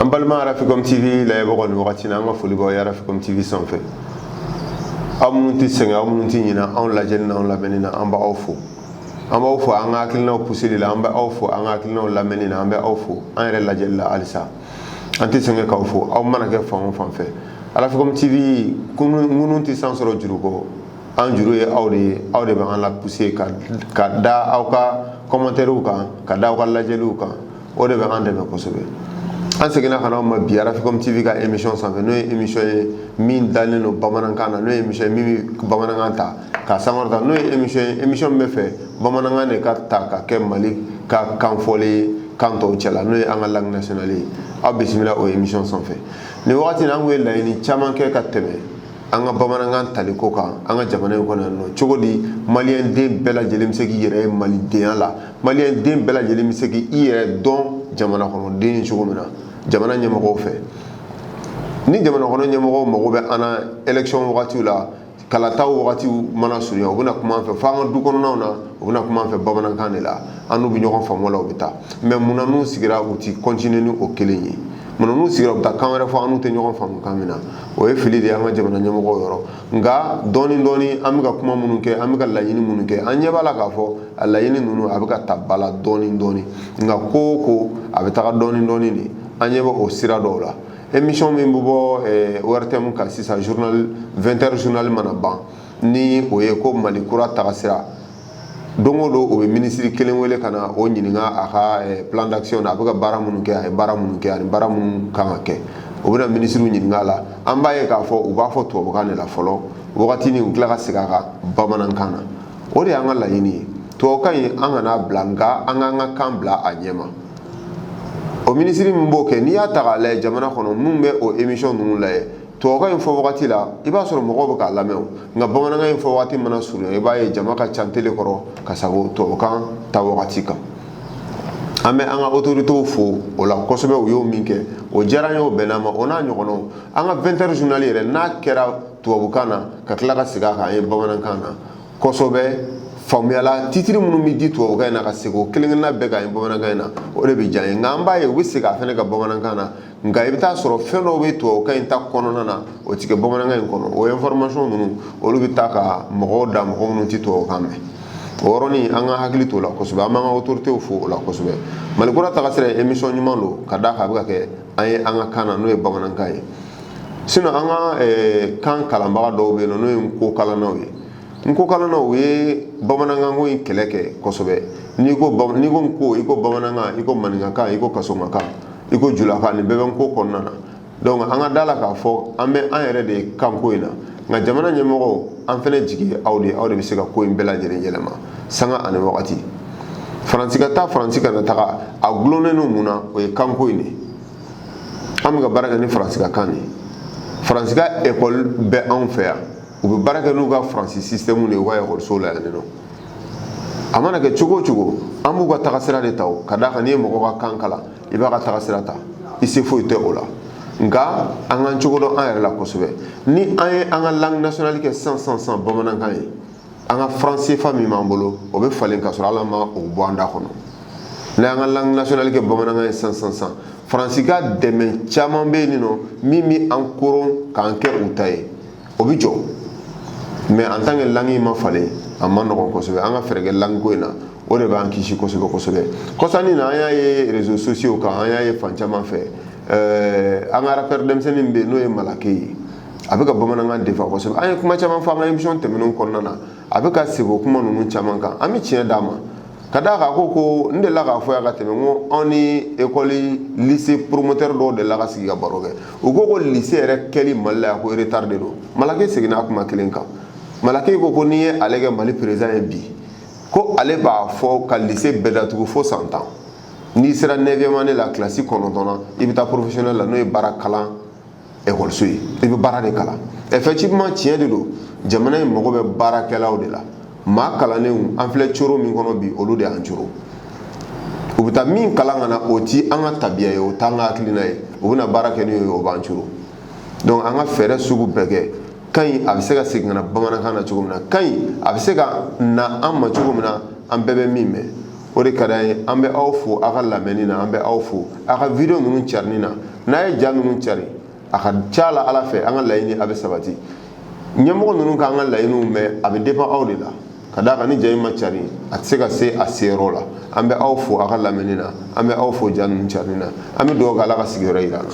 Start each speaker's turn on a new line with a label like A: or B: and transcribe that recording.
A: an balima arafikom tv lajɛbagaw nin wagati na an ka foli b'aw ye arafikom tv sanfɛ aw minnu tɛ sɛgɛn aw minnu tɛ ɲinɛ anw lajɛli n'anw lamɛnni na an b'aw fo an b'aw fo an ka hakilinaw puseli la an bɛ aw fo an ka hakilinaw lamɛnni na an bɛ aw fo an yɛrɛ lajɛli la halisa an tɛ sɛgɛn k'aw fo aw mana kɛ fan o fan fɛ arafikom tv ŋunu tɛ san sɔrɔ juru kɔ an juru ye aw de ye aw de bɛ an lapuse ka da aw ka kɔmantɛriw kan ka da aw ka lajɛliw kan o de bɛ an dɛmɛ kosɛbɛ an seginna ka n'aw ma bi arafikom tv ka emisɔn sanfɛ n'o ye emisɔn ye min dalen don bamanankan na n'o ye emisɔn ye min bɛ bamanankan ta k'a sankɔrɔta n'o ye emission ye emission min b'a fɛ bamanankan de ka ta ka kɛ mali ka kan fɔlɔ ye kan tɔw cɛla n'o ye an ka langue nationale ye aw bisimila o emission sanfɛ nin wagati in na an tun ye laɲini caman kɛ ka tɛmɛ an ka bamanankan taliko kan an ka jamana in kɔnɔ yan nɔ cogo di maliyɛn den bɛɛ lajɛlen bɛ se k'i yɛrɛ ye malidenya la maliyɛn den bɛɛ lajɛlen bɛ se k'i yɛrɛ dɔn jamana kɔnɔden cogo min na jamana ɲɛmɔgɔw fɛ ni jamana kɔnɔ ɲɛmɔgɔw mago bɛ an na élection wagatiw la kalata wagati mana surunya u bɛna kuma an fɛ fo an ka du kɔnɔnaw na u bɛna kuma an fɛ bamanankan de la an n'u bɛ ɲɔgɔn faamu la u bɛ taa mɛ mun na n'u sigira u ti kɔntini ni o kelen ye mun na n'u sigira u bɛ taa kan wɛrɛ fɔ an n'u tɛ ɲɔgɔn faamu kan min na o ye fili de ye an ka jamana ɲɛmɔgɔw yɔrɔ nka dɔɔni dɔɔni an bɛ ka kuma minnu kɛ an bɛ ka laɲini minnu kɛ an ɲɛ b'a la k'a fɔ a laɲini ninnu a bɛ ka ta ba la dɔɔni dɔɔni nka ko o ko a bɛ taga dɔɔni dɔɔni de an ɲɛ bɛ o sira dɔw la émission min bɛ bɔ ORTM kan sisan 20h journal mana ban ni o ye ko Mali kura tagasira don o don o bɛ minisiri kelen wele ka na o ɲininka a ka plan d'action na a bɛ ka baara minnu kɛ a ye baara minnu kɛ ani baara minnu kan ka kɛ o bɛna minisiriw ɲininka a la an b'a ye k'a fɔ u b'a fɔ tubabukan de la fɔlɔ wagati ni u tila ka segin a kan bamanankan na o de y'an ka laɲini ye tubabukan in an kana a bila nka an k'an ka kan bila a ɲɛ ma o minisiri min b'o kɛ n'i y'a ta k'a lajɛ jamana kɔnɔ minnu bɛ o emisɔn ninnu lajɛ tubabukan in fɔ wagati la i b'a sɔrɔ mɔgɔw bɛ k'a lamɛn nka bamanankan in fɔ wagati mana surunya i b'a ye jama ka ca tele kɔrɔ ka sagon tubabukan ta wagati kan an bɛ an ka otoritew fo o la kosɛbɛ u y'o min kɛ o diyara an ye o bɛnna an ma o n'a ɲɔgɔnnaw an ka 20h journal yɛrɛ n'a kɛra tubabukan na ka tila ka segin a kan an ye bamanankan na kosɛbɛ faamuya la titiri minnu bɛ di tubabukan in na ka segin kelenkelenna bɛɛ kan an ye bamanankan in na o de bɛ diya an ye nka an b'a ye u bɛ segin a fana kan bamanankan na nka i bɛ taa sɔrɔ fɛn dɔw bɛ tubabukan in ta kɔnɔna na o tɛ kɛ bamanankan in kɔnɔ o information ninnu olu bɛ taa ka mɔgɔw dan mɔgɔ minnu tɛ tubabukan mɛn o yɔrɔnin an k'an hakili t'o la kosɛbɛ an b'an ka autorités fo o la kosɛbɛ mali kura tagasira ye émission ɲuman don ka d'a kan a bɛ ka kɛ an ye an ka kan na n'o ye bamanankan ye sinon an ka kan kalanbaga dɔw bɛ yen n'o ye nko kalannaw ye nko kalannaw ye bamanankanko in kɛlɛ kɛ kosɛbɛ n'i ko n'i ko nko i ko bamanankan i ko maninkakan i ko kasonkakan i ko julakan nin bɛɛ bɛ nko kɔnɔna na donc an ka da a la k'a fɔ an bɛ an yɛrɛ de ye kanko in na nka jamana ɲɛmɔgɔw an fana jigi ye aw de ye aw de bɛ se ka ko in bɛɛ lajɛlen yɛlɛma sanga ani wagati faransi ka taa faransi kana taga a dulonnen don mun na o ye kanko in de ye an bɛ ka baara kɛ ni faransikan de ye faransi ka ekɔli bɛ anw fɛ yan u bɛ baara kɛ n'u ka faransi sisitɛmu de ye u ka ekɔlisow la yan nɔ a mana kɛ cogo o cogo an b'u ka tagasira de ta o ka d'a kan n'i ye mɔgɔ ka kan kalan i b'a ka tagasira ta i se foyi tɛ o la nka an k'an cogo dɔn an yɛrɛ la kosɛbɛ ni an ye an ka langue nationale kɛ sisan sisan sisan bamanankan ye an ka fran sefa min b'an bolo o bɛ falen ka sɔrɔ hali an ma o bɔ an da kɔnɔ n'an y'an ka langue nationale kɛ bamanankan ye sisan sisan sisan faransi ka dɛmɛ caman bɛ yen nɔ min bɛ an koron k'an kɛ u ta ye o bɛ jɔ mais en tant que langue ma falen a man nɔgɔn kosɛbɛ an ka fɛɛrɛ kɛ langiko in na o de b'an kisi kosɛbɛ kosɛbɛ kɔsa in na an y'a ye réseaux sociaux kan an y'a ye fan caman fɛ an ka arapɛrɛ denmisɛnnin bɛ yen n'o ye malake ye a bɛ ka bamanankan défend kosɛbɛ an ye kuma caman fɔ an ka émission tɛmɛnenw kɔnɔna na a bɛ ka se o kuma ninnu caman kan an bɛ tiɲɛ d'a ma ka d'a kan a ko ko n delila k'a fɔ yan ka tɛmɛ n ko anw ni ekɔli lise promoteur dɔw delila ka sigi ka baro kɛ u ko ko lise yɛrɛ kɛli mali la yan ko retard de don malake seginna o kuma kelen kan malake ko ko n'i ye ale kɛ mali perezan ye bi ko ale b'a fɔ ka lise bɛɛ datugu fo san tan n'i sera 9 année la kilasi kɔnɔntɔnnan i bɛ taa professionnel la n'o ye baara kalan ekɔliso ye i bɛ baara de kalan effectivement tiɲɛ de don jamana in mago bɛ baarakɛlaw de la maa kalannenw an filɛ coro min kɔnɔ bi olu de y'an coro u bɛ taa min kalan ka na o ti an ka tabiya ye o t'an ka hakilina ye u bɛna baara kɛ n'o ye o b'an coro donc an ka fɛɛrɛ sugu bɛɛ kɛ kan in a bɛ se ka segin ka na bamanankan na cogo min na kan in a bɛ se ka na an ma cogo min na an bɛɛ bɛ min mɛn o de ka d'an ye an bɛ aw fo aw ka lamɛnni na an bɛ aw fo aw ka video ninnu carili na n'aw ye ja ninnu cari a ka ca la ala fɛ an ka laɲini a bɛ sabati ɲɛmɔgɔ ninnu k'an ka laɲiniw mɛn a bɛ dépend aw de la ka d'a kan ni ja in ma cari a tɛ se ka se a seyɔrɔ la an bɛ aw fo aw ka lamɛnni na an bɛ aw fo ja ninnu carili na an bɛ dugawu kɛ ala ka sigi wɛrɛ jira an na